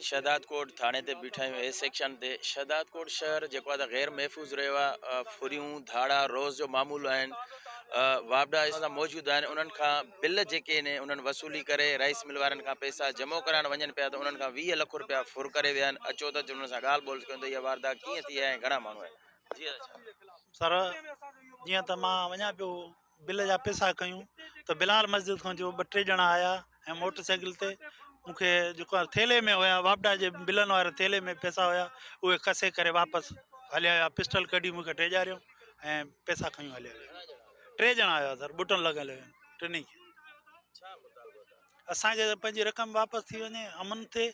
شهدادڪوٽ ٿاڻي تي بيٺا آهيون اي سيڪشن تي شهدادڪوٽ شهر جيڪو آهي غير محفوظ رهيو آهي ڦريون ڌاڙا روز جو معمول آهن واپڊا اس طرح موجود آهن انهن کان بل جيڪي آهن انهن وصولي ڪري رائس مل وارن کان پئسا جمع ڪرائڻ وڃن پيا ته انهن کان 20 لک روپيا ڦر ڪري ويا آهن اچو ته انهن سان ڳالهه ٻولهه ڪيون ته اها واردات ڪيئن ٿي آهي ۽ گهڻا ماڻهو آهن جي سر جيئن ته مان وڃان پيو بل جا پيسا ڪيون ته بلال مسجد کان جو ٻه ٽي ڄڻا آيا ۽ موٽر سائيڪل تي مونکي جيڪا ٿيلهي ۾ هيا واپڊا جي بلن واري ٿيلهي ۾ پيسا هيا اهي کسي ڪري واپس هليا ويا پسٽل ڪڍي مونکي ڊيڄاريو ۽ پيسا کڻي هليا ويا ٽي ڄڻا هيا سر بوٽن لڳل هيا ٽنهي کي اسانکي ته پنهنجي رقم واپس ٿي وڃي امن ٿئي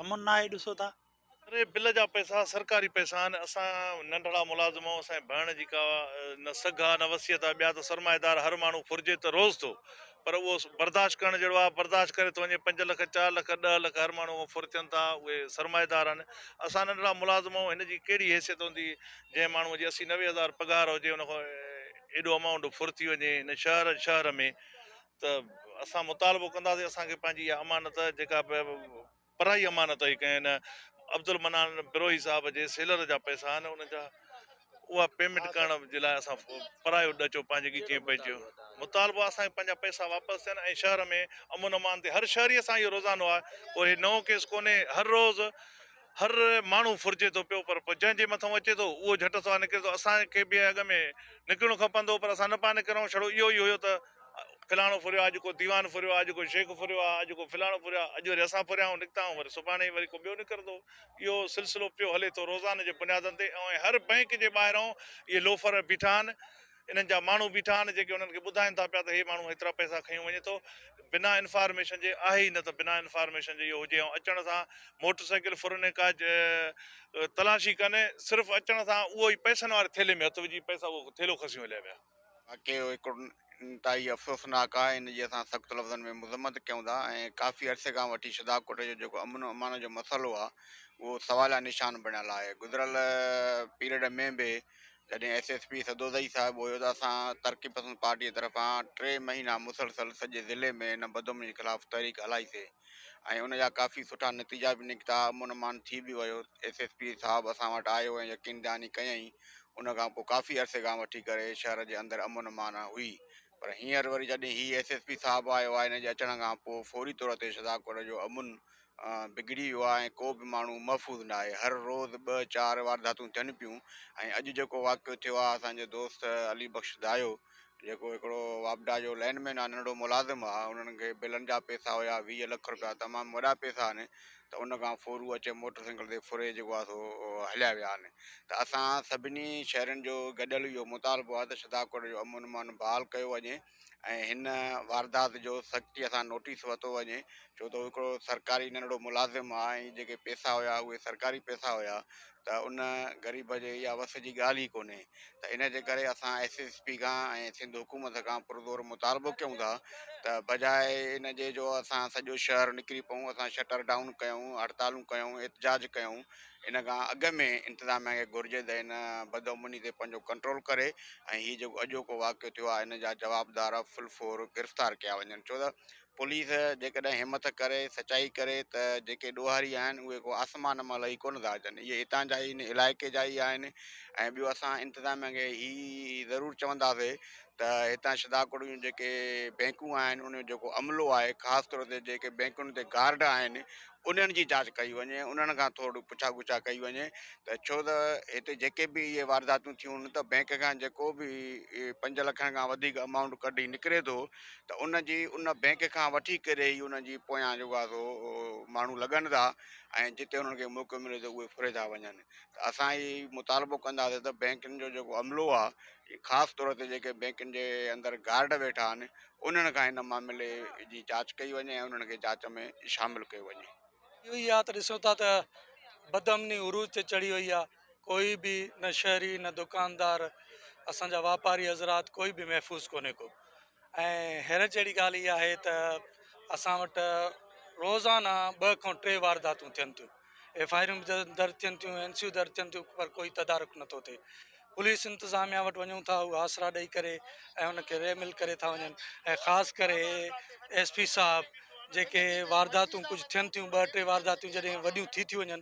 امن ناهي ڏسو تها اري بل جا پئسا سرڪاري پئسا آهن اسان ننڍڙا ملازم آهون اسان جي ڀرڻ جي ڪا نه سگهه آهي نه وصيت آهي ٻيا ته سرمائيدار هر ماڻهو ڦرجي ته روز ٿو پر اهو برداشت ڪرڻ جهڙو آهي برداشت ڪري ٿو وڃي پنج لک چار لک ڏهه لک هر ماڻهو ائين ڦر ٿين ٿا اهي سرمائيدار آهن اسان ننڍڙا ملازم آهون هن جي ڪهڙي حيثيت هوندي جنهن ماڻهو جي اسي نوي هزار پگهار هجي ان کان ايڏو امائونڊ ڦر ٿي وڃي هن شهر شهر ۾ ته اسان مطالبو ڪنداسين اسان کي پنهنجي اها امانت جيڪا به پرائي امانت هئي ڪنهن نه عبدالمنان بروهي صاحب جي سيلر جا پئسا آهن ان جا اها پيمنٽ ڪرڻ جي لاء اسان پرايو ڏچو پنهنجي ڳچيء پئجيو مطالبو اسان کي پنهنجا پئسا واپس ٿين ۽ شهر ۾ امن امان ٿئي هر شهري سان اهو روزانو آهي ڪو هي نئون ڪيس ڪونهي هر روز هر ماڻهو ڦرجي ٿو پيو پر پوء جنهن جي مٿان اچي ٿو اهو جهٽ سان نڪري ٿو اسان کي به اڳ ۾ نڪرڻو کپندو پر اسان نه پيا نڪرون ڇڙو اهو ئي هيو ته فلاڻو ڦريو آ، اڄ ڪو ديوان ڦريو آ، اڄ ڪو شيخ ڦريو آ، اڄ ڪو فلاڻو ڦريو آ، اڄ وري اسان ڦريا آهيون نڪتا آهيون وري سڀاڻي وري ڪو ٻيو نڪرندو. اهو سلسلو پيو هلي ٿو روزاني جي بنيادن تي ۽ هر بئنڪ جي ٻاهرئون اهي لوفر بيٺا آهن، انهن جا ماڻهو بيٺا آهن جيڪي انهن کي ٻڌائين ٿا پيا ته هي ماڻهو هيترا پئسا کنيو وڃي ٿو بنا انفارميشن جي آهي ئي نه ته بنا انفارميشن جي اهو هجي ۽ اچڻ سان موٽر سائيڪل ڦرن ڪا تلاشي ڪن صرف اچڻ سان اهو ئي پئسن واري ٿيلهي ۾ هٿ وجهي پئسا اهو ٿيلهو کسيون هليا ويا. واقعي اهو هڪ انتهائي افسوسناڪ آهي، ان جي اسان سخت لفظن ۾ مذمت ڪيون ٿا ۽ ڪافي عرصي کان وٺي شھداڪوٽ جو جيڪو امن و امان جو مسئلو آهي اهو سواليا نشان بڻيل آهي، گذريل پيريڊ ۾ به جڏهن S S P Sadozai Sahib هيو ته اسان ترقي پسند پارٽي طرفان ٽي مهينا مسلسل سڄي ضلعي ۾ ان بدامني جي خلاف تحريڪ هلائي سي، ۽ ان جا ڪافي سٺا نتيجا به نڪتا، امن امان ٿي به ويو، ايس ايس پي صاحب اسان وٽ آيو ۽ يقين دهاني ڪيائين، ان کان پوء ڪافي عرصي کان وٺي ڪري شهر جي اندر امن امان هئي، پر هينئر وري جڏهن هي ايس ايس پي صاحب آيو آهي ان جي اچڻ کان پوء فوري طور تي شهدادڪوٽ جو امن بگڙي ويو آهي ۽ ڪو به ماڻهو محفوظ ناهي، هر روز ٻه چار وارداتون ٿين پيون ۽ اڄ جيڪو واقعو ٿيو آهي اسان جو دوست علي بخش دايو جيڪو هڪڙو واپڊا جو لائن مين آهي ننڍڙو ملازم آهي انهن کي بلن جا پئسا هيا ويهه لک روپيا تمام وڏا پئسا آهن ته ان کان ڦورو اچي موٽر سائيڪل تي ڦري جيڪو آهي سو هليا ويا آهن ته اسان سڀني شهرين جو گڏيل اهو مطالبو آهي ته شھداڪوٽ جو امن امان بحال ڪيو وڃي ۽ هن واردات جو سختي سان نوٽيس ورتو وڃي ڇو ته هڪڙو سرڪاري ننڍڙو ملازم آهي ۽ جيڪي پئسا هيا اهي سرڪاري پئسا هيا ته ان غريب جي اها وس جي ڳالهه ئي ڪونهي ته ان جي ڪري اسان ايس ايس پي کان ۽ سنڌ حڪومت کان پرزور مطالبو ڪيون ٿا ته بجاء ان جي جو اسان سڄو شهر نڪري پئون اسان شٽر ڊائون ڪيون هڙتالون ڪيون احتجاج ڪيون ان کان اڳ ۾ انتظاميا کي گهرجي ته ان بدامني تي پنهنجو ڪنٽرول ڪري ۽ هي جيڪو اڄوڪو واقعو ٿيو آهي ان جا جوابدار فل فور گرفتار ڪيا وڃن ڇو ته پوليس جيڪڏهن همٿ ڪري سچائي ڪري ته جيڪي ڏوهاري آهن اهي ڪو آسمان مان لهي ڪونه ٿا اچن اهي هتان جا ئي ان علائقي جا ئي آهن ۽ ٻيو اسان انتظاميا کي هي ضرور چونداسي ته هتان شداڪوٽ جون جيڪي بينڪون آهن ان جو جيڪو عملو آهي خاص طور تي جيڪي بينڪن تي گارڊ آهن انهن جي جاچ ڪئي وڃي انهن کان ٿورڙي پڇا ڳڇا ڪئي وڃي ته ڇو ته هتي جيڪي به اهي وارداتون ٿيون ته بينڪ کان جيڪو به پنج لکن کان وڌيڪ امائونٽ ڪڍي نڪري ٿو ته ان جي ان بئنڪ کان وٺي ڪري ئي انهن جي پويان جيڪا سو ماڻهو لڳن ٿا ۽ جتي انهن کي موقعو ملي ٿو اهي ڦري ٿا وڃن ته اسان هي مطالبو ڪنداسين ته بئنڪن جو جيڪو عملو آهي خاص طور تي جيڪي بئنڪن جي اندر گارڊ ويٺا آهن انهن کان هن معاملي جي جاچ ڪئي وڃي ۽ انهن کي جاچ ۾ شامل ڪيو وڃي. اهو ئي آ ته ڏسون ٿا ته بدامني عروج تي چڙهي وئي آ. ڪوئي به نه شهري نه دڪاندار اسان جا واپاري حضرات ڪوئي به محفوظ ڪونهي ڪو ۽ حيرت جهڙي ڳالهه اها آهي ته اسان وٽ روزانه ٻه کان ٽي وارداتون ٿين ٿيون ايف آئي آرون به درج ٿين ٿيون اين سيون درج ٿين ٿيون پر ڪوئي تدارڪ نٿو ٿئي پوليس انتظاميا وٽ وڃون ٿا هو آسرا ڏئي ڪري ۽ ان کي ريمل ڪري ٿا وڃن ۽ خاص ڪري ايس پي صاحب جيڪي وارداتون ڪجهه ٿين ٿيون ٻه ٽي وارداتون جڏهن وڏيون ٿي ٿيون وڃن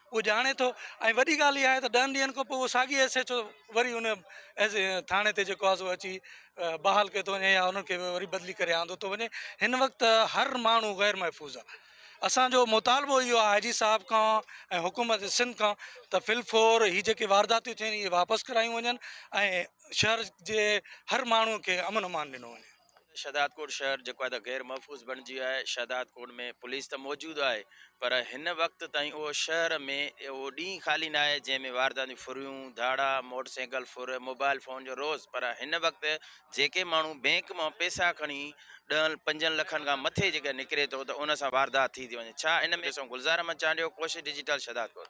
اهو ڄاڻي ٿو ۽ وڏي ڳالهه اها آهي ته ڏهن ڏينهن کان پوء اهو ساڳي حيثيت جو وري ان ٿاڻي تي جيڪو آزو اچي بحال ڪيو ٿو وڃي يا انهن کي وري بدلي ڪري آندو ٿو وڃي هن وقت هر ماڻهو غير محفوظ آهي اسانجو مطالبو اهو آهي آئي جي صاحب کان ۽ حڪومت سنڌ کان ته فل فور هي جيڪي وارداتيون ٿيون آهن اهي واپس ڪرايون وڃن ۽ شهر جي هر ماڻهو کي امن امان ڏنو وڃي شهدادڪوٽ شهر جيڪو آهي ته غير محفوظ بڻجي ويو آهي، شهدادڪوٽ ۾ پوليس ته موجود آهي پر هن وقت تائين اهو شهر ۾ اهو ڏينهن خالي نه آهي جنهن ۾ وارداتون ڦريون، ڌاڙا، موٽر سائيڪل ڦر، موبائل فون جو روز پر هن وقت جيڪي ماڻهو بينڪ مان پئسا کڻي ڏهن پنجن لکن کان مٿي جيڪڏهن نڪري ٿو ته ان سان واردات ٿي ٿي وڃي ڇا ان ۾ ڏسون گلزار احمد چانڊيو ڪوشش ڊجيٽل شهدادڪوٽ.